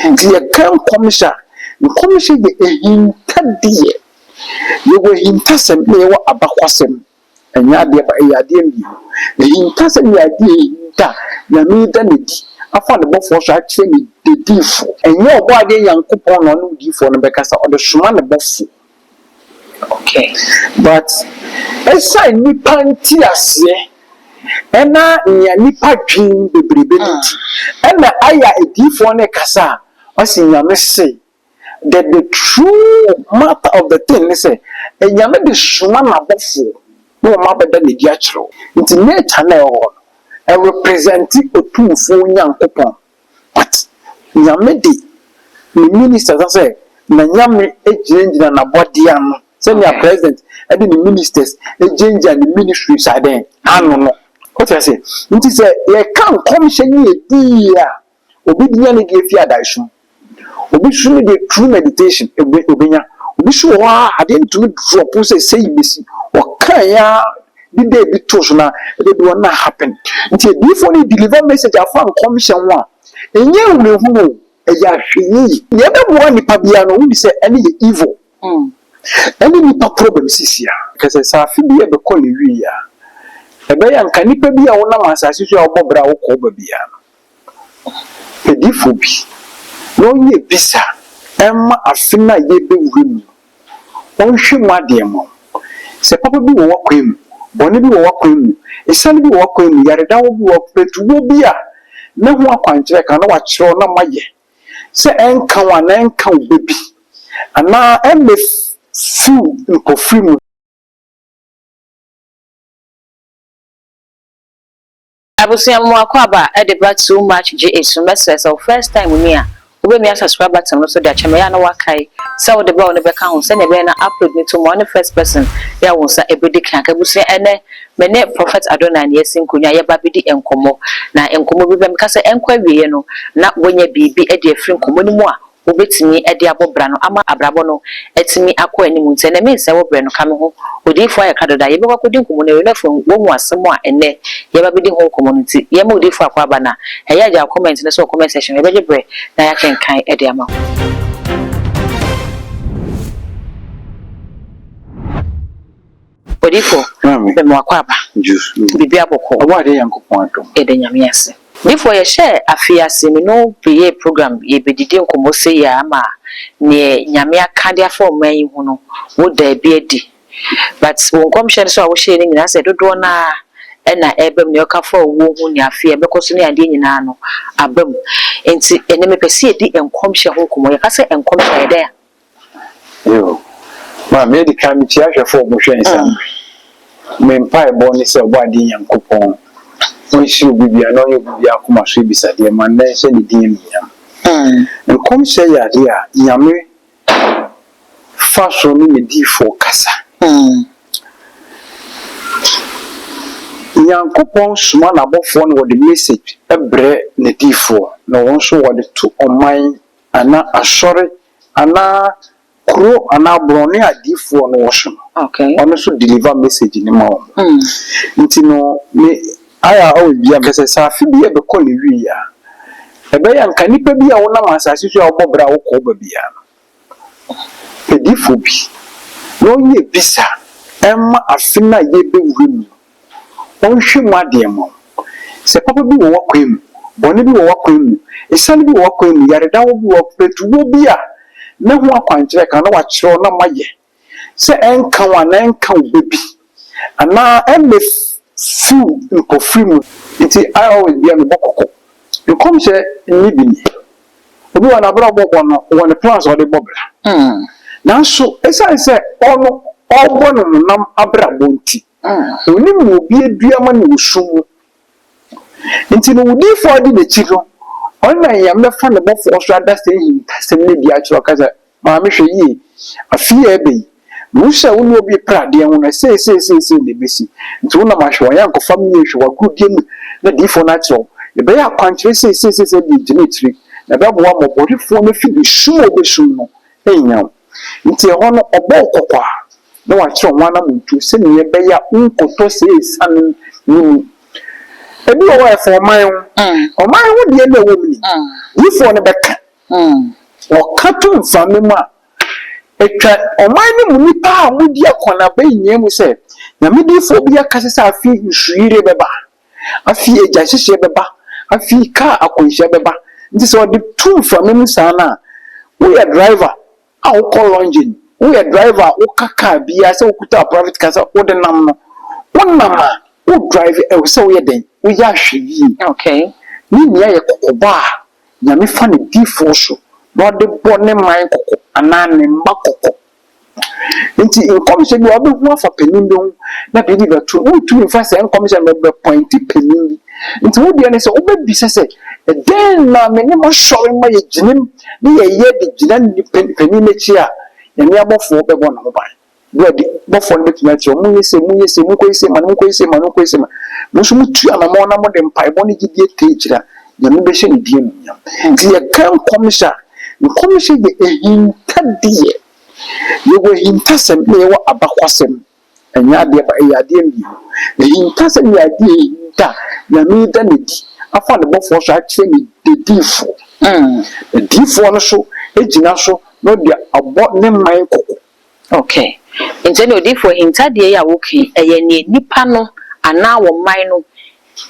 Enti yɛka nkɔmhyɛ a, nkɔmhyɛ yɛ ahintadeɛ. Yɛwɔ ahintasɛm na yɛwɔ abakwasɛm. Ɛnyɛ adeɛ ba ɛyɛ adeɛ mmienu. Ahintasɛm yɛ adeɛ a ɛhinta a Nyame reda no adi afa ne bɔfoɔ so akyerɛ ne diifoɔ. Ɛnyɛ ɔbɔadeɛ Nyankopɔn na ɔne odiifoɔ no bɛkasa, ɔde soma ne bɔfoɔ. Okay but ɛsiane nnipa nteaseɛ ɛna nea nnipa dwen bebrebe no nti ɛna ayɛ a adiyifoɔ no rekasa a wɔse Nyame se the the true matter of the thing ne sɛ Nyame de soma n'abɔfoɔ na wɔn abɛda n'adi akyerɛ wo nti nature na ɛwɔ hɔ no ɛrepresente otumfoɔ Nyankopɔn But Nyame de ne ministers asɛ na Nyame gyinagyina nabɔdeɛ ano sɛnea president de ne ministers gyinagyina ne ministries adɛn ano no. Wote aseɛ? Nti sɛ yɛka nkɔmhyɛ ne ɛdi yie a, obi benya ne deɛ firi adaeso mu. Obi nso ne deɛ through meditation obenya. Obi nso wɔ hɔ a adeɛ no tumi drop wo sɛ sei besi. Ɔkaeɛ ara de dɛ bi to so na ɛbɛ bi wɔn na happen nti adiifoɔ no deliver message afa nkɔmhyɛ ho a ɛnyɛ ahunahuna o ɛyɛ ahwɛyie yi nea ɛbɛboa nipa biara no woni sɛ ɛne yɛ evil ɛne nipa problem sisi a kɛsɛ sɛ afe bi a ɛbɛkɔ ne wie a ɛbɛyɛ a nka nipa bi a wonam asase so a wobɔ bra a wokɔ woba biara no pɛdifoɔ bi na ɔnyɛ bisa ɛmma afe no a yɛbɛwura mu no. Ɔnhwɛ mu adeɛ mma wo. Sɛ papa bi wɔ w'akwan mu, bɔne bi wɔ w'akwan mu, asiane bi wɔ w'akwan mu, yareda wɔ bi wɔ w'akwan mu, patuwuo bi a, na ho akwankyerɛ ka na wakyerɛ wo na moayɛ sɛ ɛnka wo anaa ɛnka wo ba bi anaa ɛmmɛ fi wo mpofiri mu. Abusua mu akwaaba a ɛde ba too much gye esu mɛsrɛ sɛ wo first time ni a wobɛmia subscribe button no so de akyɛ me ya na wakae sɛ wode bɛwo no bɛka ho sɛnea ɛbɛyɛ na upload no to mu a ɔne first person ya wo nsa ɛbɛdi kan ka abusua ɛnɛ me ne prophet Adonai na yɛasi nkonwa yɛba bɛdi nkɔmmɔ na nkɔmmɔ bi bɛmeka sɛ ɛnkɔ awieɛ no na wanya biribi de afiri nkɔmmɔ no mu a wobetumi de abɔ bra no ama abrabɔ no atumi akɔ anim. Nti, ɛnnɛ mensɛe wo bere no, ka me ho odiyifo ayɛka dada a yɛbɛkɔ akodi nkɔmmɔ no awie no afei woahu asɛm a ɛnnɛ yɛreba abedi ho nkɔmmɔ no nti. Yɛma odiyifo a waba no a, ɛyɛ a gyaw wo kɔmɛnt no so wɔ kɔmɛnt section hɔ, yɛbɛgye bere na yɛakenkan de ama wo. Odifo bem wakwaaba bibia bɔkɔɔ yɛda nyame ase. Difo yɛhyɛɛ afei ase me no beyɛɛ program yɛbedidi nkɔmɔ sei a ama neɛ nyame aka de afa ɔman yi ho no wo daa bi adi but wo nkɔmhyɛ nso a wohyɛɛ no nyinaa sɛ dodoɔ no ara na ɛbam neɛ ɔka fa owuo ho ne afei a ɛbɛkɔ so ne adeɛ nyinaa no abam nti ɛnɛ mepɛ sɛ yɛdi nkɔmhyɛ ho nkɔmɔ yɛka sɛ nkɔmhyɛ a yɛdɛn a Yoo ma me edi kan mekyia ahwɛfo a wɔhwɛ nsɛm. Mm. Me mpaebɔ ne sɛ ɔbɔ adeɛ Nyankopɔn ɔnhyira obi bia na ɔnyɛ obi bia akoma so abisadeɛ ma na ɛhyɛ ne din anuonyam. Mm. Nkɔmhyɛ yɛ adeɛ a Nyame fa so ne ne diifoɔ kasa. Mm. Nyankopɔn soma n'abɔfoɔ na wɔde message brɛ ne diifoɔ na wɔn nso wɔde to ɔman ana asɔre Anaa kuro anaa borɔno a diifoɔ no wɔ so no ɔno nso deliver message no ma wɔn nti no me I always bia mepɛ sɛ sɛ afe biara bɛkɔ ne wie a ɛbɛyɛ a nka nnipa bi a wonam asase so a wobɔ bra a wokɔ woba biara no pɛ diifoɔ bi na ɔnyɛ bisa ɛmma afe no a yɛbɛwura mu no Ɔnhwɛ mu adeɛ mma wo. Sɛ papa bi wɔ w'akwan mu, bɔne bi wɔ w'akwan mu, asiane bi wɔ w'akwan mu, yareda wɔ bi wɔ, patuwuo bi a, na ho akwankyerɛ ka na wakyerɛ wo na moayɛ, sɛ ɛnka wo anaa ɛnka wo ba bi, anaa ɛmmɛ fi wo mpofiri mu. Nti I always bia mebɔ kɔkɔ. Nkɔmhyɛ nni bi ni. Obi wɔ hɔ a n'abrabɔ bɔ no, ɔwɔ ne plans a ɔde bɔ bra. Nanso, ɛsiane sɛ ɔno ɔrebɔ ne honam abrabɔ nti, Wɔnim nea obi adua ma no wɔ sum mu. Enti no, wo diyifo a odi n'akyi no, ɔno na Nyame bɛfa ne bɔfoɔ so ada saa ahintasɛm no adi akyerɛ wo, aka sɛ, Maame, hwɛ yie, afe yi a ɛba yi, mehu sɛ wo ne obi repere adeɛ ho, na sei, sei, sei, sei na ɛbɛsi. Enti wo na mahwɛ wo, yɛnkɔfa me yie nhwɛ wo, agorudie mu na diyifoɔ no akyerɛ wo, yɛbɛyɛ akwankyerɛ sei, sei, sei, sei de gyina akyire, na ɛbɛboa ma ɔbɔnefoɔ no afi ne sum a ɔbɛsum no anya wo. Enti ɛhɔ no, ɔbɔɔ kɔkɔ a. na wakyerɛ ho anamɔntuo sɛdeɛ ɛbɛyɛ a wonkɔtɔ saa asiane no mu. Ebi wɔ hɔ a ɛfa ɔman ho, ɔman ho deɛ na ɛwɔ mu ni, diifoɔ no bɛka, ɔka to mframa mu a, ɛtwa ɔman no mu nnipa a wɔdi akɔneaba nyinaa mu sɛ, Nyame diifoɔ bi akasa sɛ afei nsuyire bɛba, afei agyahyehyɛ bɛba, afei kaa akwanhyia bɛba. Nti sɛ ɔde to mframa mu saa no a, woyɛ driver a wokɔ lɔngyen, woyɛ driver a woka car biara sɛ wokuta private car sɛ wode nam no, wonam a wo drive ɛwɔ sɛ woyɛ dɛn? Woyɛ ahwɛyie. Okay. Ne nua yɛ kɔkɔbɔ a Nyame fa no difoɔ so na ɔde bɔ ne man kɔkɔ anaa ne mma kɔkɔ. Nti nkɔmhyɛ bi a wobɛhu afa panin bi ho na biribi bɛto no, wontumi mfa saa nkɔmhyɛ no bɛpɔinte panin bi. Nti wo deɛ ne sɛ wobɛbisa sɛ, Ɛdɛn na me ne m'asɔre ma yɛgyinim? ne yɛn yɛ de gyina nipa nipanin no akyi a, Nyame abɔfoɔ bɛbɔ ne ho ban. Bere a de bɔfoɔ no bɛtumi akyerɛ wɔn, monyɛ sei, monyɛ sei, monkɔ yi sei ma no, monkɔ yi sei ma no, monkɔ yi sei ma no. Mo nso motu anammɔn na mode mpaebɔ ne gyidie taa akyire a, Nyame bɛhyɛ ne din animuonyam. Nti yɛka nkɔmhyɛ a, nkɔmhyɛ yɛ ahintadeɛ. Yɛwɔ ahintasɛm na yɛwɔ abakwasɛm. Ɛnyɛ adeɛ pa, ɛyɛ adeɛ mmienu. Ɛhinta sɛ nea adeɛ yi da, Nyame reda no adi afa Ne bɔfoɔ so akyerɛ Ne N'adiyifoɔ. N'adiyifoɔ no nso gyina so na wɔde abɔ Ne man kɔkɔ. Ok. Enti ɛnneɛ odiyifoɔ, hintadeɛ yi a woka yi, ɛyɛ nea nnipa no anaa wɔn man no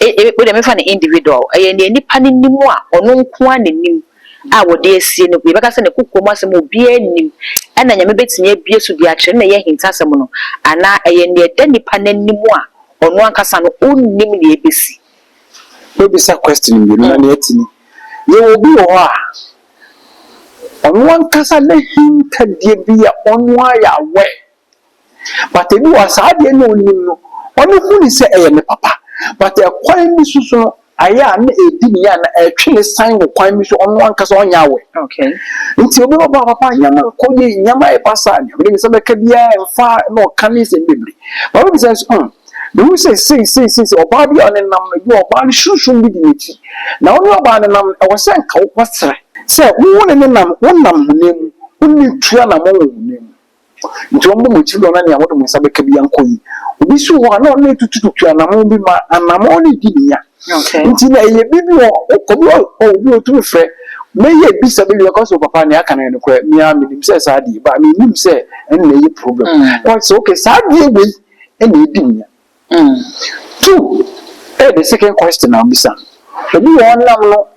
Wei deɛ memfa no individual, ɛyɛ nea nipa no nim a ɔno nko ara na ɔnim a wɔde asie no. Yɛbɛka sɛ ne kokoam asɛm a obiara nnim na Nyame bɛtumi abue so de akyerɛ no na ɛyɛ ahintasɛm no anaa ɛyɛ nea ɛda nipa no anim a ɔno ankasa no ɔnnim nea ɛbɛsi. Mɛbisa question mmienu na nea ɛte ni, Yɛwɔ obi wɔ hɔ a ɔno ankasa n'ahintadie bi yɛ ɔno ara yɛ aware but ebi wɔ hɔ a saa adeɛ no a ɔnim no ɔno hu ne sɛ ɛyɛ ne papa but ɛkwan bi so so no ayɛ a na ɛdi ne yɛ a na ɛtwe ne san wɔ kwan bi so ɔno ankasa ɔnyɛ awɛ okay. nti obi bɛbɔ papa nyama nkɔ yie nyama ɛba saa nea ɔde ne nsa bɛka biara ɛmfa na ɔka ne nsɛm bebree baabi bi sɛ nso mehu sɛ sei sei sei sɛ ɔbaa bi a ɔne nam no bi ɔbaa no sunsun bi di n'akyi na ɔne ɔbaa no nam no ɛwɔ sɛ nka wokɔsrɛ sɛ wo ne ne nam wo nam honam mu wo ne tua nam wɔ honam mu Nti wɔn bɔ mo akyiri na nea mode mo nsa bɛka bi ankɔ yi. Obi si hɔ a na ɔne tutututu anamɔn bi ma anamɔn no di ne nya. Nti na ɛyɛ bi bi wɔ ɔkɔ bi wɔ obi otumi frɛ mɛyɛ bi sɛ bi yɛ kɔ so papa nea aka no yɛ no korɛ mi a mi nim sɛ saa deɛ ba mi nim sɛ ɛna ɛyɛ problem. Kɔ so okay saa deɛ wei ɛna ɛdi ne nya. Mm. Two, ɛyɛ the second question na ɔbisa. Obi wɔ hɔ nam no,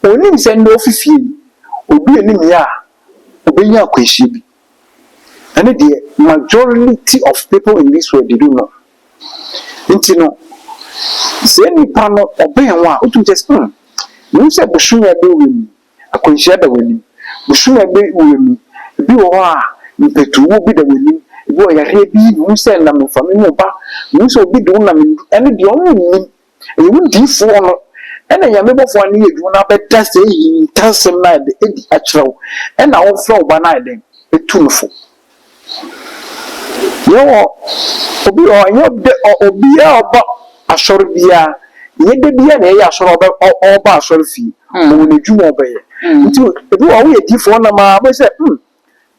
ɔnim sɛ nnɛ ɔfi fie yi, obi anim yɛ a, ɔbɛnya akwanhyia bi. Ɛne deɛ majority of people in this world, they don't know. Nti no, sɛ nipa no ɔbɛn wo a, ɔtum kyɛ sɛ, mm, menim sɛ bosome a ɛbɛwura mu Akwanhyia da w'anim. Bosoom a ɛbɛ wura mu. Ebi wɔ hɔ a, nipatuu wu bi da w'anim. Ebi wɔ yareɛ bi, mehu sɛ nam mframa mu reba. Mehu sɛ obi de wo nam ndu. Ɛno deɛ ɔno nnim. Ɛyɛ wo diifoɔ no ɛna Nyame bɔfoɔ a ne yɛ adwuma no abɛda saa ahintasɛm no a ɛde adi akyerɛ wo. Ɛna wofrɛ wo ba no ayɛ dɛn? Atu no fo. Yɛwɔ obi wɔ hɔ, ɛnyɛ da obiara ɔba asɔre biara, ɛnyɛ da biara na ɛyɛ asɔre ɔbɛ ɔba asɔre fie, ɔwɔ n'adwuma ɔbɛyɛ. Nti ebi wɔ hɔ a woyɛ diifoɔ wonam ara wobɛhu sɛ hmm,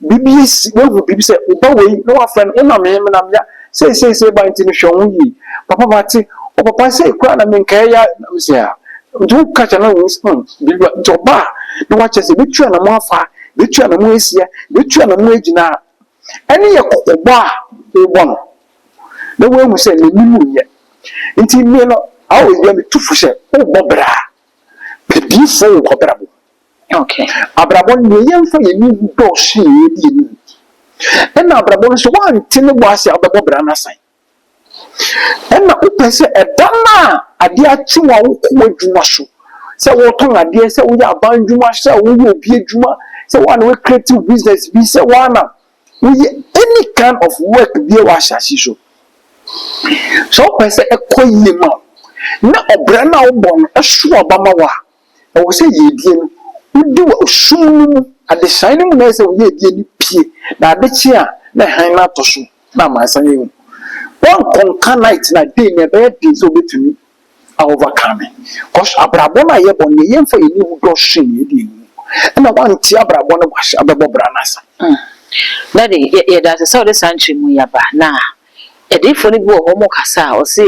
biribi asi, woahu biribi sɛ wo ba wei na woafrɛ no, wonam he, menam ya, sei sei sei ba nti no hwɛ wo ho yie. Papa mate, o papa sei koraa na menkaeɛ yi ara na mese aa, nti woka kyerɛ no na wohu sɛ hmm, biribi wɔ ha. Nti ɔba a na woakyerɛ sɛ bɛtu anamɔ afa Bɛtu anamo asia, bɛtu anamo agyina a, ɛne yɛ kɔkɔbɔ a wobɔ no, na woahu sɛ n'anim nyɛ. Nti mme no, Ao Owia, metu fo sɛ wobɔ bra, pɛ diyifoɔ wɔ w'abrabɔ mu. Okay. Abrabɔ no, deɛ yɛmfa yɛn ani hu dɔɔso yɛn ani anim. Ɛna abrabɔ no, sɛ woante ne bɔ ase a, wobɛbɔ bra no asan. Ɛna wopɛ sɛ ɛda no a adeɛ akye wo a wokɔ w'adwuma so, sɛ wotɔn adeɛ, sɛ woyɛ aban adwuma, sɛ woyɛ obi adwuma, sɛ woa na wo create wo business bi, sɛ woa na woyɛ any kind of work biara wɔ ahyɛase so. Sɛ wopɛ sɛ ɛkɔ yie ma wo, na ɔbrɛ no a wobɔ no ɛso aba ma wo a, Ɛwɔ sɛ yɛ adie no wodi wɔ sum no mu, adesae no mu na ɛyɛ sɛ woyɛ adie no pie, na ade kye a na hann no atɔ so na ama asan ahu. Wankɔ nka night na day na ɛbɛyɛ den sɛ obetumi a overcome cause abrabɔ no a yɛbɔ no yɛmfa yɛn ani nhu dɔɔso sen nea yɛde yɛn ani hu na wante abrabɔ no bɔ ase abɛbɔ bra no asa. Daddy, yɛda ase sɛ wode saa nkyerɛmu yi aba, na Adiyifoɔ no bi wɔ hɔ a wɔkasa a, ɔse,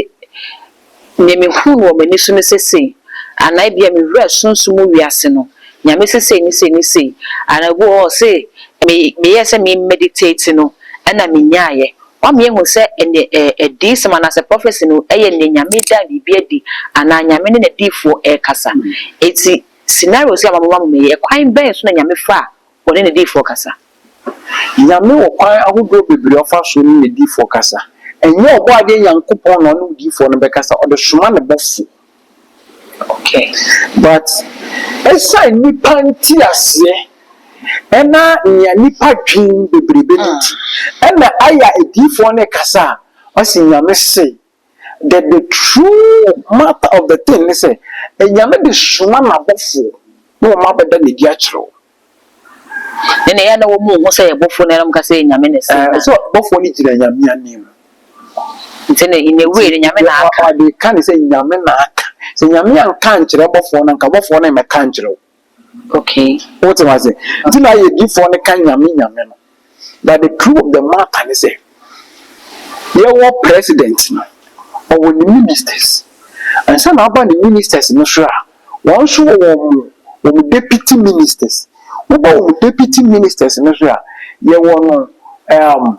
Deɛ mehunu no wɔ m'ani so ne sɛ sei, anaa ebia me wura sunsum mu wiase no, Nyame se sei ne sei ne sei. Anaa obi wɔ hɔ a ɔse, Me, meyɛɛ sɛ me meditate no, ɛna menyaaeɛ. Wama yɛahu sɛ ɛneɛ ɛ, adiyisɛm anaasɛ prophecy no yɛ neɛ Nyame da biribi adi, anaa Nyame ne N'adiyifoɔ ɛrekasa. Enti scenarios yi a mama mo yi, ɛkwan bɛn so na Nyame fa Wɔne N'adiyifoɔ kasa. Nyame wɔ kwan ahodoɔ bebree a ɔfa so ne N'adiyifoɔ kasa. Ɛnyɛ Ɔbɔadeɛ Nyankopɔn na ɔne Odiyifoɔ no bɛkasa, ɔde soma ne bɔfo. But ɛsiane nnipa nteaseɛ ɛna nea nnipa dwen bebrebe no nti, ɛna ayɛ a Adiyifoɔ no rekasa a, wɔse Nyame se, The the true matter of the thing ne sɛ, Nyame de soma n'abɔfoɔ na wɔn abɛda no adi akyerɛ wo. Ɛna ɛyɛ na wɔn nhu sɛ yɛ bɔfoɔ na ɛna wɔn ka sɛ yɛ Nyame na ɛsɛ na. Sɛ bɔfoɔ no gyina Nyame anim. Nti na in a way no Nyame na aka. Ɔde ka ne sɛ Nyame na aka. Sɛ Nyame anka ankyerɛ bɔfoɔ no anka bɔfoɔ no mmɛka ankyerɛ wo. Okay. Wote ma se? Nti na ayɛ difoɔ no ka nyame nyame no. But the truth of the matter ne sɛ, yɛwɔ president no, ɔwɔ ne ministers. Ansa na aba ne ministers no so a, wɔn nso wɔ wɔn mo, wɔn deputy ministers. Woba wɔn deputy ministers no so a, yɛwɔ no um,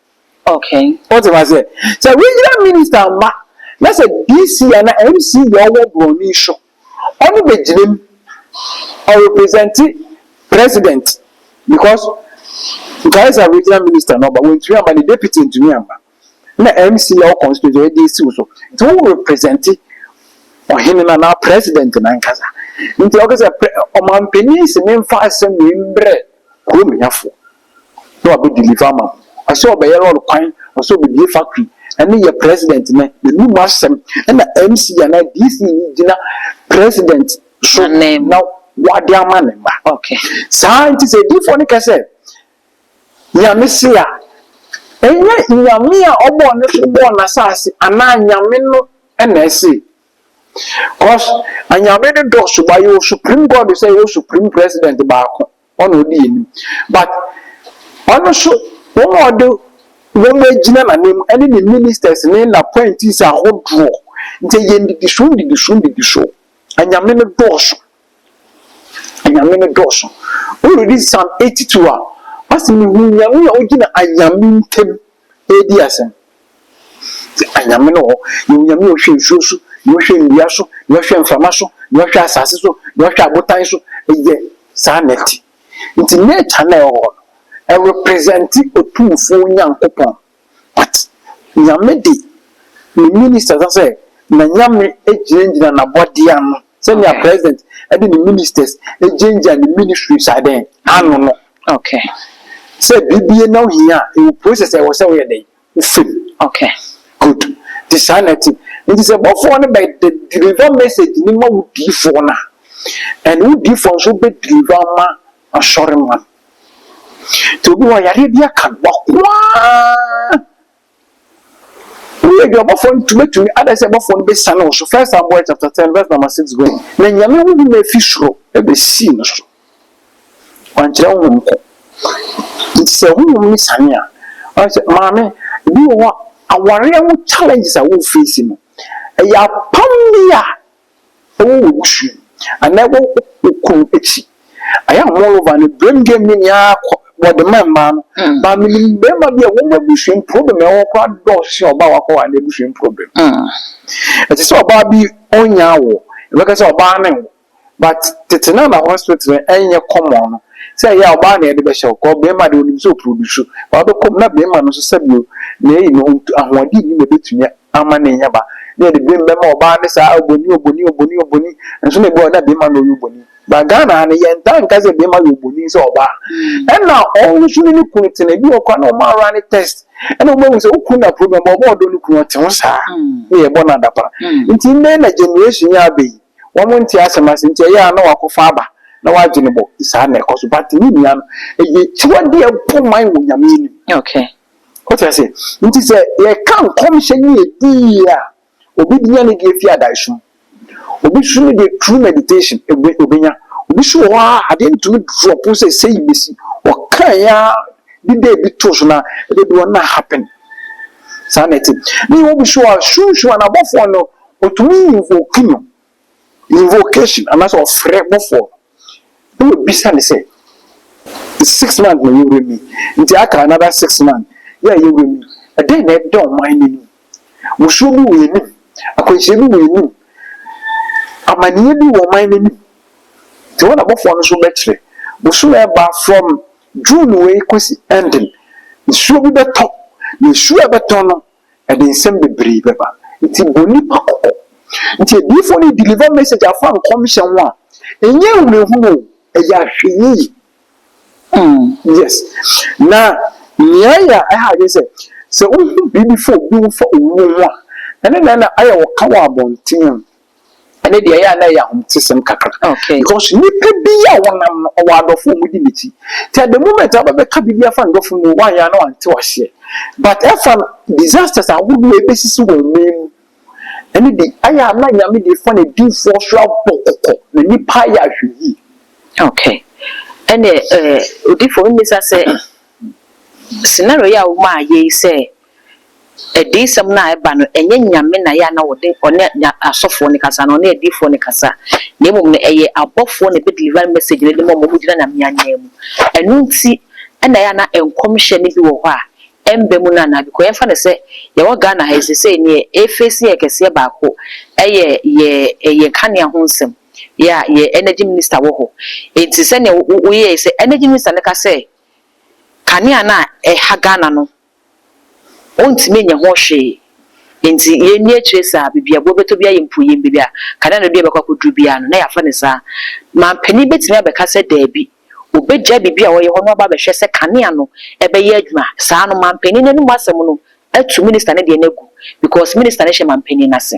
Okay. Wote aseɛ? Sɛ regional minister mma na sɛ DC ana MC deɛ ɔwɔ borɔni so ɔno bɛgyina mu ɔrepresent president because nkaeɛ sɛ regional minister na ɔba wɔntumi amba ne deputy ntumi amba na MC yɛ wo constituency ɔyɛ de asiw so nti wo represent ɔhene no anaa president no ankasa nti ɔkɛ sɛ ɔmampanin si memfa asɛm wei mbrɛ kurom hiafoɔ na ɔabɛ deliver ama wo. Ɔsɛ ɔbɛyɛ lɔɔre kwan, ɔsɛ ɔbɛbue factory, ɛno yɛ president no n'anum asɛm. Ɛna MC anaa DC no gyina president so na w'ade ama ne mma. Okay. Saa nti sɛ adiifoɔ no ka sɛ nyame se a, ɛnyɛ nyame a ɔbɔɔ ne so bɔɔ n'asaase anaa nyame no ɛna ɛse. Cause anyame no dɔɔso but yɛwɔ supreme God sɛ yɛwɔ supreme president baako. ɔna ɔdi anim but ɔno so wɔn a ɔde wɔn agyina n'anim ɛne ne ministers ne n'appointees ahodoɔ nti ɛyɛ ndidiso ndidiso ndidiso anyame no dɔɔso anyame no dɔɔso wɔredi psalm eighty two a ɔsi mi hu nyame a ɔgyina anyame ntam. redi asɛm. Anyame no wɔ hɔ. Yɛwɔ Nyame a ɔhwɛ nsuo so, deɛ ɔhwɛ nnua so, deɛ ɔhwɛ mframa so, deɛ ɔhwɛ asase so, deɛ ɔhwɛ abotan so, yɛ saa na ɛte. Nti nature no a ɛwɔ hɔ no, ɛrepresente Otumfoɔ Nyankopɔn. But Nyame de, ne ministers asɛ, N'Anyame gyinagyina N'abɔdeɛ ano. Sɛnea president de ne ministers gyangya ne ministries a dɛn ano no. Okay. Sɛ biribi na ohia a, ɛwɔ process a ɛwɔ sɛ woyɛ dɛn wofam. Okay. Good. Nti saa na ɛte. Nti sɛ bɔfoɔ no bɛ de deliver message ne ma wo diifoɔ no a, ɛne wo diifoɔ nso bɛ deliver ma asɔre ma no. Nti obi hɔ yareɛ bi aka no, wakoaa Woyɛ edwuma bɔfoɔ no tumi ada sɛ bɔfoɔ no bɛsiane wo so First Samuel chapter ten verse number six going Na Nyame honhom afi soro bɛsii no so Wankyerɛ honhom ko Nti sɛ honhom no siane a Ɔyɛ sɛ maame bi wɔ hɔ awareɛ ho challenges a wofeesi no Ɛyɛ apam bi a Wɔ wo busua mu anaa wɔ wo kunu akyi. Ayɛ a moreover no brem game no nyinaa kɔ wɔde ma mmaa no. But menim mmarima bi a wɔn abusua mu problem a ɛwɔ hɔ koraa dɔɔso sen ɔbaa a wakɔware no abusua mu problem. Ɛte sɛ ɔbaa bi ɔnnya awoɔ, yɛbɛka sɛ ɔbaa no nwo. But tete no a na hospital no ɛnyɛ common no, sɛ ɛyɛ a ɔbaa na yɛde bɛhyɛ hɔ cause barima deɛ ɔnim sɛ ɔproduce, but wobɛkɔ mu na barima no nso sɛdeɛ n'ayi no ahoɔden nni ma ɛbɛtumi Amma ne nyɛ ba, na yɛde bem bɛma ɔbaa ne saa oboni oboni oboni oboni, nso na ebi wɔ hɔ na bema na ɔyɛ oboni. But Ghana ha no yɛntaa nka sɛ bema yɛ oboni sɛ ɔbaa. Ɛna ɔno nso ne ne kunu te no, ebi wɔ hɔ koraa na wɔn ara ne test ɛna wɔn ahu sɛ wo kunu na problem, but ɔbɔ ɔdɔ ne kunu ɔte ho saa na yɛbɔ no adapa. Nti nnɛ na generation yi a aba yi wɔn nte asɛm ase nti ɛyɛ a na wakɔfa aba na wadwene bɔ, saa na ɛkɔ so, but ne nua no ɛyɛ akyiwadeɛ ɛbɔ man wɔ Nyame anim. Okay. Wote ase? Nti sɛ yɛka nkɔmhyɛ ne ɛdi yie a, obi benya ne deɛ firi adaeɛso mu. Obi nso ne deɛ through meditation ebe obenya. Obi nso wɔ hɔ a adeɛ no tumi drɔpo sɛ sei bɛsi. Ɔkaeɛ ara de day bi too so no a, ɛbɛdu hɔ no na happen. Saa na ɛte. Ne yɛwɔ bi nso a sunsum anaa abɔfoɔ no, ɔtumi invoke no. invocation anaasɛ ɔfrɛ bɔfoɔ no na wabisa ne sɛ six months na yɛwura mu nti aka another six months yɛ a yɛwura mu ɛdɛn na ɛda ɔman no anim musuo bi wɔ yɛn anim akwanhyia bi wɔ yɛn anim amanneɛ bi wɔ ɔman no anim nti wɔn na bɔfoɔ no so bɛkyerɛ bosom ɛba from June wei kɔsi ending nsuo bi bɛtɔ na nsuo a ɛbɛtɔ no ɛde nsɛm bebree bɛba nti bɔ nipa kɔkɔ nti adiifoɔ no deliver message afa nkɔmhyɛ ho a ɛnyɛ ahunahuna o ɛyɛ ahwɛyie mm yes na nea ɛyɛ ɛha adwene sɛ sɛ wohu biribi fa obi ho fa owuo ho a ɛne na ɛna ayɛ ɔka wɔ abɔnten ɛne deɛ ɛyɛ a na ɛyɛ ahometesɛm kakra okay because nipa bi a wɔnam no ɔwɔ adɔfo a wɔdi n'akyi nti at the moment a wɔbɛka biribi afa ne dɔfo mu wɔanyɛ a na wɔnte waseɛ but ɛfa disasters ahodoɔ a ɛbɛsisi wɔn mmaa mu ɛne de ayɛ a na nyame de fa n'adiifoɔ so abɔ kɔkɔ na nipa ayɛ ahwɛ yie okay ɛne ɛɛ odifoɔ mmisa sɛ scenario yi a wɔmaa yɛ yi sɛ Adiyisɛm no a ɛba no, ɛnyɛ Nyame na yɛ a na ɔde, ɔne asɔfoɔ no kasa, anaa ɔne adiyifoɔ no kasa, na mmom no ɛyɛ abɔfoɔ na ɛbɛ deliver message no de ma wɔn a wɔgyina Nyame ananmu. Ɛno nti na ɛyɛ a na nkɔmhyɛ no bi wɔ hɔ a ɛmba mu no anaa, because yɛmfa no sɛ yɛwɔ Ghana ha yi seesei neɛ ɛ face yɛn kɛseɛ baako yɛ yɛn yɛn kanea ho nsɛm, yɛ a yɛn energy minister wɔ hɔ, nti sɛdeɛ wo wo yɛɛ sɛ energy minister no ka sɛ kanea no a ɛha Ghana no Wontumi nyɛ ho hwee. Enti yenni akyire saa, baabi a bobe tɔ biara yɛ mpoyɛm, baabi a kanea no dua bɛkɔ akɔduru biara no, na yɛafa no saa. Manpanin betumi abɛka sɛ dabi, obegyae biribi a ɔyɛ hɔ na waba abɛhwɛ sɛ kanea no bɛyɛ adwuma saa no. Manpanin no anom asɛm no atu minista no deɛ no agu, because minista no hyɛ manpanin no ase.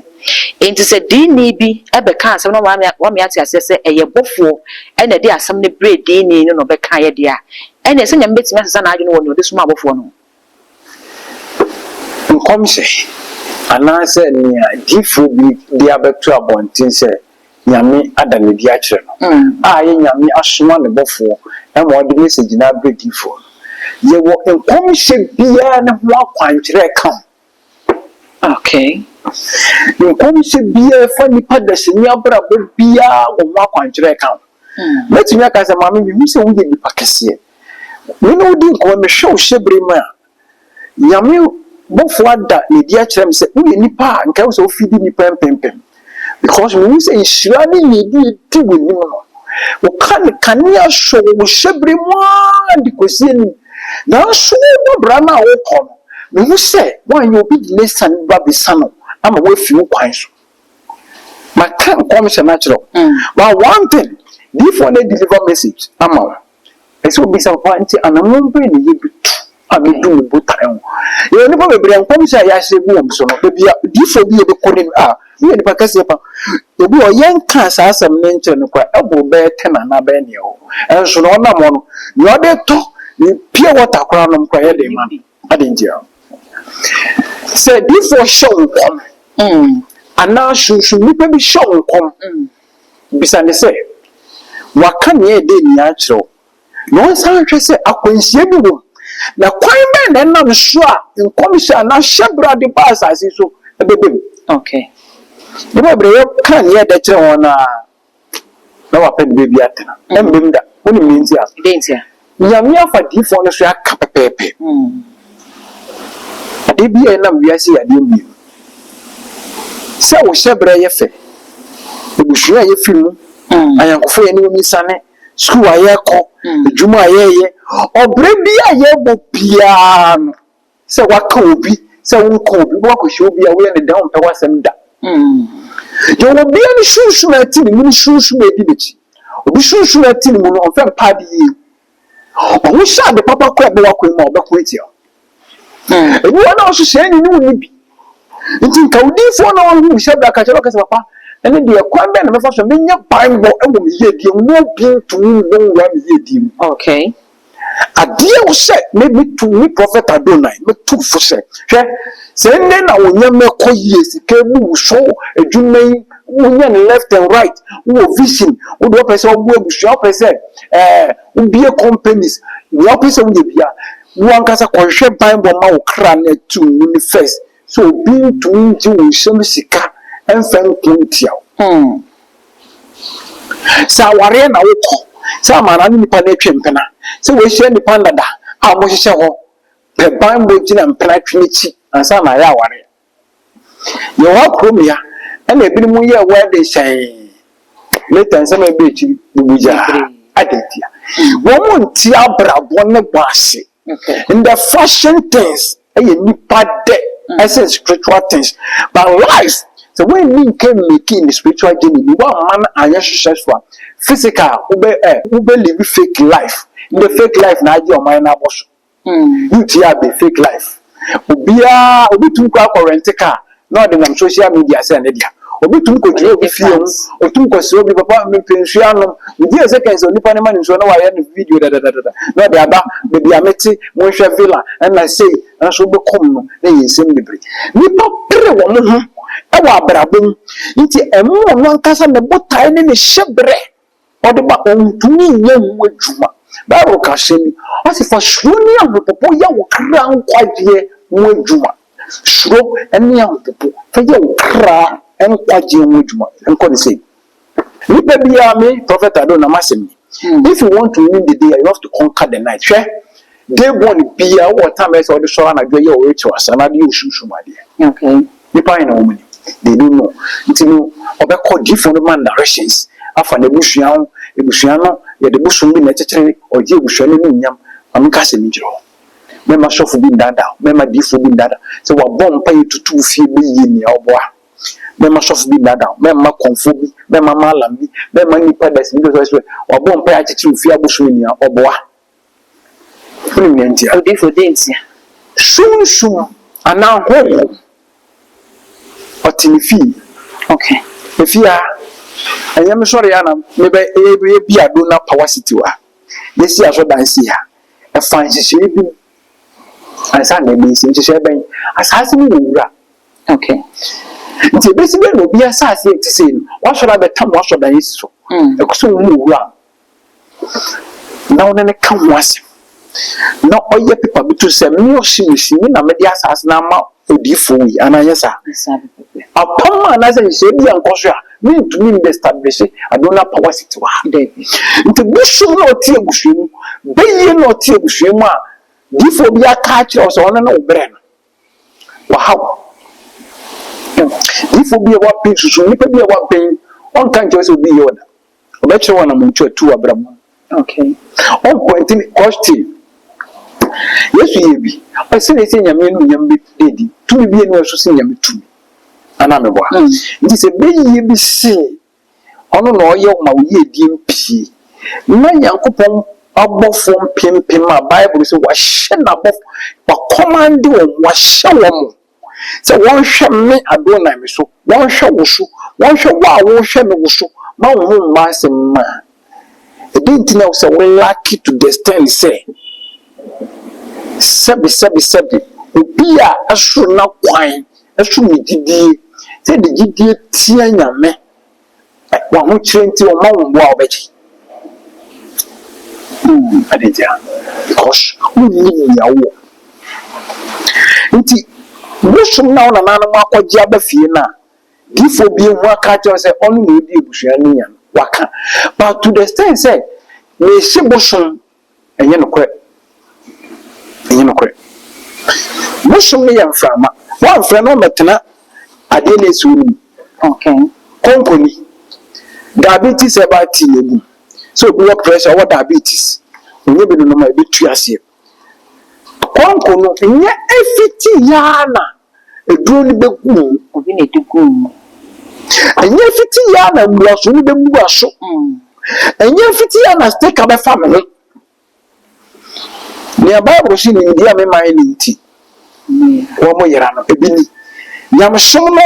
Enti sɛ diinni bi bɛka asɛm na wama yɛate aseɛ sɛ ɛyɛ bɔfoɔ na ɛde asɛm no brɛɛ diinni no na ɔbɛkaeɛ deɛ a, ɛnneɛ sɛ Nyame bɛtumi asesa n'adwene wɔ nea ɔde somaa bɔfoɔ no ho? Nkɔmhyɛ anaasɛ nea diifoɔ bi de abɛto abɔnten sɛ Nyame ada no adi akyerɛ no, a ɛyɛ Nyame asoma ne bɔfoɔ ma ɔde message no abrɛ diifoɔ no, yɛwɔ nkɔmhyɛ biara no ho akwankyerɛ ka ho. Okay. Nkɔmhyɛ biara ɛfa nipa dasani abrabɔ biara wɔ ho akwankyerɛ ɛka ho. Mɛtumi aka sɛ maame mehu sɛ woyɛ nipa kɛseɛ. Me ne wo di nkɔmɔ mehwɛ wo hyɛberem a, Nyame bɔfoɔ ada no adi akyerɛ me sɛ woyɛ nipa a nka ɛwɔ sɛ wofidi nipa mpempem. Because menim sɛ nhyira ne nidie di w'anim no, woka ne kanea sɔ wɔ wo hyɛberɛ mu ara de kɔsi anim. Nanso wo babra no a worekɔ no, mehu sɛ woanyɛ obi de no asiane ba bɛsiane wo ama woafiri wo kwan so. Maka nkɔmhyɛ no akyerɛ wo. But one thing, diyifoɔ no adeliver message ama wo. Ɛsɛ sɛ wobisa papa a, enti anammɔn bɛn na yebetu a medu me botae ho? Yɛwɔ nnipa bebree a nkɔmhyɛ a yɛahyɛ agu wɔn so no, baabi a odiyifo bi a obekɔ no ni. A Woyɛ nnipa kɛse paa. Ebi wɔ hɔ, yɛnkaa saa asɛm no nkyerɛ no koraa, ɛboro bɛyɛ ten anaa bɛyɛ nea ɛwɔ hɔ. Nanso na ɔnam hɔ no, nea ɔde tɔ ne pure water koraa nom koraa, ɛyɛ den ma no. Adɛn ntia? Sɛ adiyifoɔ hyɛ wo nkɔm anaa sunsum nnipa bi hyɛ wo nkɔm, bisa no sɛ, Waka nea ɛyɛ dɛ nyinaa akyerɛ wo? Na ɔnsan nhwɛ sɛ akwanhyia bi wom, na kwan bɛn na ɛnam so a nkɔmhyɛ anaa hyɛberɛ a ɔde baa asase so bɛba mu? Nnipa bebree ka nea ɛyɛ dɛ kyerɛ wɔn ara. na wapɛ ne baabi atena. Ɛmma mu da. Wonim nea nti a? Dɛn nti a? Nyame afa diyifoɔ no so aka pɛpɛɛpɛ. Adeɛ bi a ɛnam wiase yɛ adeɛ mmienu. Sɛ wo hyɛberɛ yɛ fɛ, abusua a yɛfiri mu, ayɔnkofoɔ a yɛne wɔn asiane, sukuu a yɛrekɔ, adwuma a yɛreyɛ, ɔbrɛ bi a yɛrebɔ biara no, sɛ waka obi sɛ wokɔ obi bi wakɔhyɛ obi a woyɛ ne dɛn ɔmpɛ w'asɛm da deɛ ɔwɔ bia no sunsum ati ne mu no sunsum adi n'akyi obi sunsum ati ne mu no ɔmfɛ mpa ade yie ɔho hyɛ ade papa kɔ ɛbɛ wakɔ mu a ɔbɛko atia ebi wɔ na ɔso sɛ ɛne ne wonni bi nti nka odiifoɔ na ɔho hyɛ bra kakyɛ bɛkɛsɛ papa ɛne deɛ kwan bɛn na mɛfa so menyɛ banbɔ ɛwɔ me yie die mu na obi ntumi mmɔ nwura me yie die mu okay Adeɛ wo sɛ me me tu me prɔfɛt Adonai me tu fo sɛ hwɛ sɛ ɛnɛ na wo nneɛma ɛkɔ yie sika abu wo so adwuma yi wonya no left and right wowɔ vision wo deɛ wopɛ sɛ woboa abusua wopɛ sɛ ɛɛ wobie companies nea wopɛ sɛ woyɛ bia wo ankasa kɔhwehwɛ bible ma wo kra no atu mu no first So obi ntumi ngye wo nsam sika mfa nko ntia wo? Hmm. Sɛ awareɛ na wokɔ, sɛ amaana ne nipa no atwa mpena, sɛ wahyia nipa nnada a mohyehyɛ hɔ, pɛ banbɔ gyina mpena twe n'akyi ansa na ayɛ awareɛ. Yɛwɔ ha kuromea, ɛna ebinom yɛ wɛde sɛn leta nsɛm a ɛbɛ akyiri bubu gyaa. Adɛn ntia? Wɔn nti abrabɔ ne bɔ ase. Ndɛ fashion things yɛ nipa dɛ ɛsen spiritual things but lies sɛ w'ani nkɛ make ne spiritual journey ni w'amma no anyɛ hwehwɛ so a physical wo bɛ ɛ wo bɛ live fake life ndɛ fake life na agye ɔman no abɔ so youth yi abɛ fake life. Obiara, obi tum kɔ akɔ rɛnte kaa na ɔde nam social media sɛ ne dea. Obi tum kɔgyina obi fie ho, otum kɔsrɛ obi, papa mepɛ nsuo anom. Within a second sɛ onipa no ma no nsuo na wayɛ no video dadadadada na ɔde aba baabi a mete, monhwɛ villa na sei, nanso wobɛkɔm no na ɛyɛ nsɛm bebree. Nnipa pere wɔn ho wɔ abrabɔ mu, nti ɛma ɔno ankasa ne botae ne ne hyɛberɛ Ɔde ma ontumi nyɛ ho adwuma. Bible ka asɛm bi, ɔse, Fa suro ne ahopopo yɛ wo kra nkwagyeɛ ho adwuma. Suro ne ahopopo, fa yɛ wo kra nkwagyeɛ ho adwuma. Nkɔ ne sei. Nipa biara, me Prophet Ado, na m'asɛm ni, if you want to win the day, you have to conquer the night. Hwɛ, Dee bɔn biaa wɔ tam ɛsɛ ɔde sɔre anadwo yɛ ɔretew ase anaa de yɛ osunsum adeɛ? Nnipa ahe na wɔn nim? They don't know. Nti no ɔbɛkɔ diifoɔ no bɛma no directions afa n'abusua ho, abusua no yɛde bosom bi na ɛkyekyere ɔgye abusua no animuonyam, ma menka asɛm yi nkyerɛ wo, mɛma sɔfo bi nnaadaa wo, mɛma diifoɔ bi nnaadaa wo, sɛ wabɔ mpaeɛ atutu wo fie bɛyie nea ɔboa, mɛma sɔfo bi nnaadaa wo, mɛma kɔmfoɔ bi, mɛma maalam bi, mɛma nnipa dasani bi, wabɔ mpaeɛ akyekyere wo fie abosom nea ɔboa. Wonim nea nti a? Odiyifo, dɛn ntia? Sunsum anaa honhom. Ɔte ne fie. Ok. Efie a, ɛnyɛ me sɔre a na mebɛ yɛ bi a do na power city wa. Yɛsi asɔdan si ha. Ɛfa nhyehyɛe bi mu. Ansa na ɛbɛ si. Nhyehyɛe bɛn? Asaase no wɔ wura. Ok. Nti ɛbɛsi dɛn na obi asaase a ɛte sei no, w'asɔre abɛtam w'asɔdan asi so? Ɛkɔ sɛ wo mu wɔ wura. na wo ne no ka ho asɛm, na ɔyɛ pepa bi to sɛ, Me Ɔhyemasi, me na mede asaase no ama odiyifoɔ wei, anaa ɛnyɛ saa? Apam a anaasɛ nhyehyɛeɛ bi ankɔ so a, mentumi mbe establish adeɛ no apaw asi te wɔ ha. Nti bosom na ɔte abusua mu, bayie na ɔte abusua mu a diyifoɔ bi aka akyerɛ wo sɛ ɔno ne wo brɛ no, waha wo. Diyifoɔ bi a wapen susu, nnipa bi a wapen, ɔnka nkyerɛ wo sɛ obi yɛ wo da. Ɔbɛkyerɛ wo anammɔntu atu wɔ abrabɔ mu. Okay. Ɔn pɔnte ne kɔstin. Yesu yɛ bi. Ɔse ne se Nyame no nyam bɛ de adi. Tumi bi eni hɔ so se Nyame tumi. Ana me boa. Mm. Nti se bɛ yie bi se ɔno na ɔyɛ wo ma wo yie die mpie. Na Nyankopɔn abɔfoɔ mpempem a Bible se wahyɛ nabɔf, wa kɔmande wɔn, wahyɛ wɔn. sɛ wɔnhwɛ me, Adonai, me so, wɔnhwɛ wo so, wɔnhwɛ wo a wonhwɛ me wo so, ma wo ho mma asɛm mu a, ɛdɛn nti na sɛ wo lack it to the extent sɛ, sɛbe, sɛbe, sɛbe, obi a ɛsoro n'akwan, ɛsoro ne gyidie, sɛ de gyidie tia Nyame, w'ahokyerɛ nti ɔma wo mmoa a wobɛgye ɛde ntia because wonnim nea wowɔ nti bosom na wo nananom akɔgye aba fie no a difoɔ bi ho aka kyerɛ sɛ ɔno na ɔdi abusua no nya waka but to the extent sɛ mehyɛ bosom Ɛnyɛ nokorɛ. Ɛnyɛ nokorɛ. Bosom no yɛ mframa. Woamfrɛ no ɔmmɛtena adeɛ no ɛsi wo no mu. Okay. Kɔnkɔni. Diabetes herbal tea na ɛgum. Sɛ obi wɔ pressure, ɔwɔ diabetes, ɔnyɛ bi nonom a ɛbɛtu aseɛ. Kɔnkɔ no, nyɛ ɛfiti yi ara na. aduro no bɛgu mu. Obi na ɛde guu mu. Ɛnyɛ fiti yɛ na mmuaso no bɛmmua so. Mm. Ɛnyɛ fiti yɛ na steka bɛfa me ho. Nea Bible si nimdeɛ a mema ne nti, wɔn yera no, ebi ni. Nyamesom no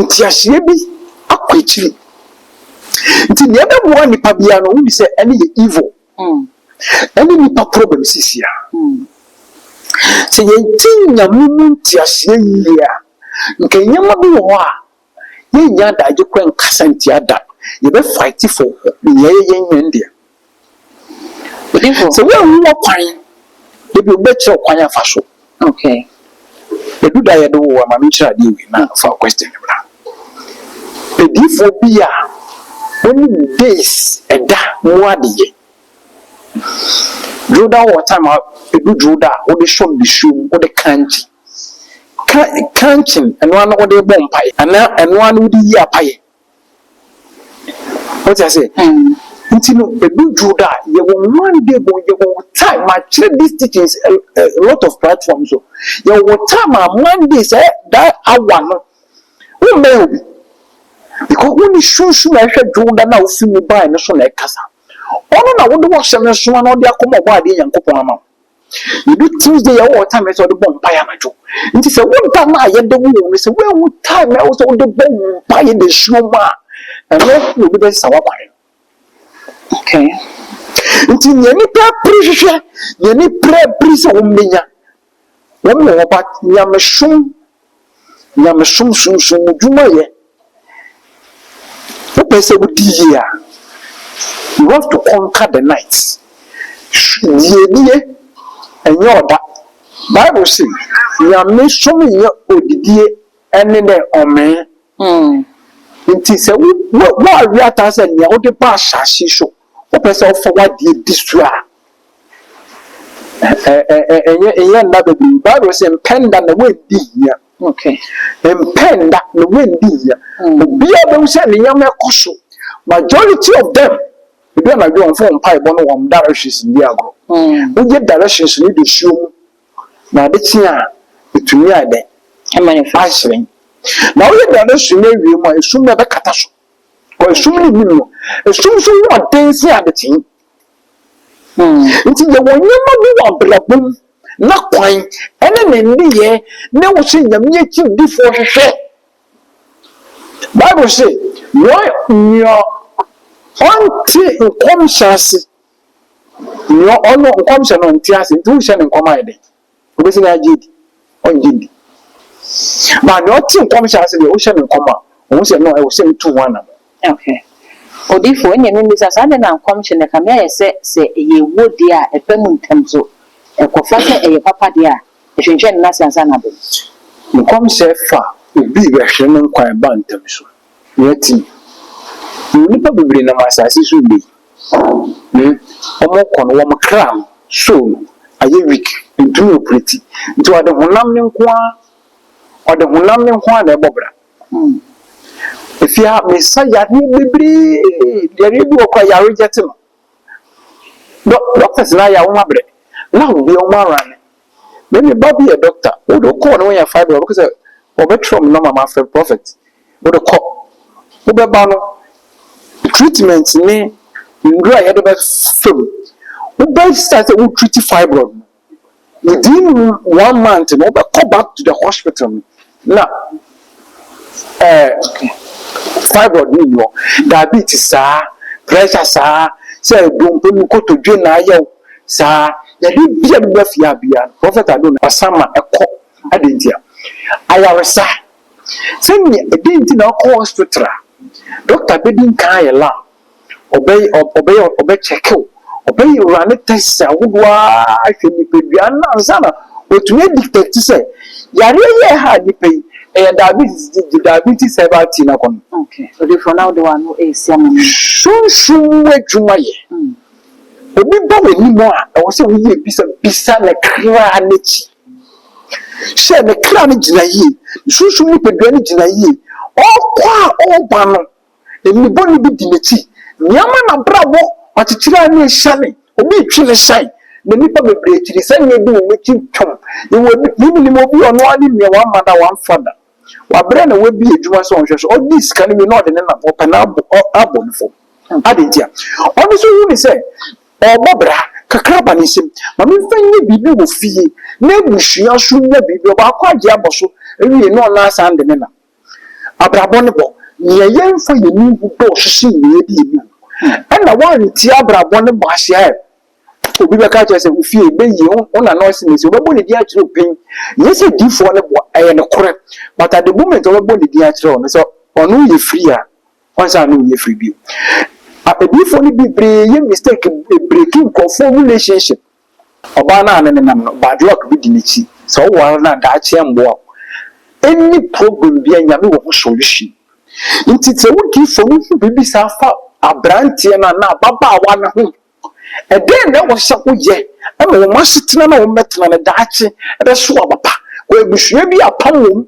nteaseɛ bi akɔ akyiri. Nti nea ɛbɛboa nipa biara no, woni sɛ ɛne yɛ evil. ɛne nnipa problem sisi a, sɛ yɛnte Nyame mu nteaseɛ yie a, nka nneɛma bi wɔ hɔ a yɛnnya adagye koraa nkasa ntia da. Yɛbɛ fight for nea ɛyɛ yɛn yɛn deɛ. Sɛ woanhu w'akwan, ebia obi bɛkyerɛ wo kwan afa so. Okay. Edu da yɛde wo ama me nkyerɛ adeɛ wei na fa wo question no bra. Adiifoɔ bi a wɔnim days ɛda mu adeyɛ. Dwoda wɔ time a edu dwoda a wode sɔ no nsuo mu wode kankye. Ka kankye no ɛno ara na wode bɔ mpaeɛ anaa ɛno ara na wode yi apaeɛ. What's I say? Nti no, edu duru da a, yɛwɔ one day bɔ, yɛwɔ time ma kyerɛ these teachings a, a, a lot of platforms so. Yɛwɔ time a Monday sɛ that hour no, wommɛn obi. Because wo ne sunsun a ɛhwɛ duru da no a wofi mu bae no so na ɛkasa. Ɔno na wode wɔhyɛ no nso na ɔde akɔma ɔbɔ adeɛ Nyankopɔn ama wo. Yɛdu Tuesday yɛ wɔ time sɛ ɔde bɔ mpaeɛ anadwo. Nti sɛ woda no a yɛde wo no sɛ woahu time a ɛwɔ sɛ wode bɔ mpaeɛ da suo mu a, ɛno na obi bɛsesa w'akwan. Okay. Nti nea nipa apiri hwehwɛ, nea nipa apiri sɛ wɔn bɛnya, wɔn wɔ hɔ but nyamesom Nyamesom sunsum mu dwumayɛ. Wopɛ sɛ wodi yie a, you have to conquer the night. Yiedie ɛnyɛ ɔda. Bible se, Nyamesom nyɛ odidie ɛne dɛ ɔmee. Nti sɛ wo wo awe ataa sɛ nea wode ba asaase so Wopɛ sɛ wofa w'adeɛ di so a, ɛnyɛ nna bebree. Bible sɛ mpɛ nna na woandi hia. Mpɛ nna na woandi hia. Hmm. Obiara bɛhu sɛ ne nneɛma ɛkɔ so. Majority of them, ebi anadwo wɔn fɔ mpaebɔ no wɔn directions ndi agorɔ. Hmm. Wogye directions no de suo mu na ade kye a ɛtumi ayɛ dɛ. Ɛma ne fa. Ahyerɛn. Na woyɛ direction no awie mu a, esum no ɛbɛkata so. Wɔ esum no nim no, esum so wɔ ɔden sɛ adetee. Hmm. Nti yɛ wɔ nneɛma bi wɔ abrabɔ mu na kwan ɛne ne nneyɛ ne wo sɛ nyame akyidifoɔ hwehwɛ. Bible se wɔn nea ɔnte nkɔmhyɛ ase nea ɔno nkɔmhyɛ no nte ase nti wohyɛ ne nkɔm ayɛ den. Obetumi agye adi? Ɔngye nni. Ba nea ɔte nkɔmhyɛ ase deɛ, wohyɛ no nkɔm a, ohu sɛ no, ɛwɔ sɛ metu ho anam. Okay. Odiyifo, ɛnneɛ mimmisa saa, adɛn na nkɔmhyɛ no ɛkame ayɛ sɛ sɛ ɛyɛ awuo deɛ a, ɛba mu ntɛm so? Ɛkɔfa sɛ ɛyɛ papa deɛ a, ɛhwehwɛ nna ase ansa na aba mu? Nkɔmhyɛ fa obi bɛhwere no nkwa a ɛba ntɛm so. Yɛte nea nnipa bebree nam asase so nnɛ yi hmm, wɔkɔ no, wɔn kra no, soul no, ayɛ weak, ɛntumi operate. Nti ɔde honam no nko ara, ɔde honam no nko ara na ɛbɔ bra. Hmm. Efi ha, mesa yareɛ bebree, yareɛ bi wɔ kɔ a yare gyɛte no. Dɔ, doctors na ayɛ a wɔn abrɛ, na obi a wɔn ara ne. Me me ba bi yɛ doctor, wo de wokɔ na wonya fibroid wɔbɛka sɛ wɔbɛtwerɛ me nɔma ma afrɛ prophet, wo de kɔ. Wobɛba no, treatment ne nnuro a yɛde bɛfa mu. Wobɛ start sɛ wo treat fibroid no, within one month no wobɛkɔ back to the hospital no, Na eh, fibroid no nni hɔ, diabetes saa, pressure saa, sɛ dompe no kotodwe na ayɛ wo saa, yɛde bia no ba fie a bia no, Prophet Ado na. Ɔsan ma ɛkɔ, adɛn ntia? Ayaresa, sɛnea, ɛdɛn nti na wokɔ hospital a, doctor bɛdi nkan ayɛ lab, ɔbɛkyɛke wo, ɔbɛyewura ne tɛsts ahodoɔ ara ahwɛ nipadua no ansa na watumi adetɛkte sɛ yareɛ yi a ɛha nnipa yi, ɛyɛ diabetes nti gye diabetes herbal tea no akɔ nom. Sunsum mu adwuma yɛ. Obi ba w'anim a, ɛwɔ sɛ woyɛ abisa bisa ne kra n'akyi. Hwɛ ne kra no gyina yie? Ne sunsum nipadua no gyina yie? Ɔkɔ a ɔba no, Nne bɔne bi di n'akyi. Nea ama n'abrabɔ akyekyere a ɛne asiane, obi retwe ne hyɛn, na nnipa bebree kyiri sɛ nea edi wɔn akyi twom. Yɛwɔ bi, me menim obi a ɔno ara ne nua wamma da, wamfa da. Wabrɛ na wabue adwuma sɛ ɔnhwɛ so. Odi sika no wie na ɔde ne nam, ɔpɛ no abɔ, ɔ, abɔ no fam. Adɛn ntia? Ɔno nso hu no sɛ ɔrebɔ bra, kakra ba ne nsam. Ma memfa nyɛ biribi wɔ fie, na abusua nso nya biribi. Ɔbaako agye abɔ so, awie na ɔno asan de ne nam. Abrabɔ no bɔ. Nea yɛmfa yɛn ani nhu dɔɔso sen nea yɛde yɛn ani hu. Ɛnna woantie abrabɔ no bɔ ase ɛ? Obi bɛka akyerɛ sɛ, Ofie, bɛyie, wo na na ɔse me se wobɛbɔ ne din akyerɛ wo pɛn. Nyɛ sɛ diifoɔ no bɔ, ɛyɛ nokorɛ. But at the moment a wobɛbɔ ne din akyerɛ wo no, sɛ ɔno yɛ firi a, ɔnsan ne nyɛ firi bio. Adiifoɔ no bebree yɛ mistake breaki nkurɔfoɔ relationship. Ɔbaa no a ne nenam no, bad luck bi di n'akyi. Sɛ woware no a, daakye ɛmmoa wo. Any problem biara, Nyame wɔ ho solution. Nti sɛ wo diifo no hu biribi saa fa abranteɛ no anaa ababaawa no ho, ɛdɛn na ɛwɔ sɛ woyɛ ma wɔn asetena no a wɔbɛtena no daakye bɛso aba pa? Kɔ abusua bi a apam wom.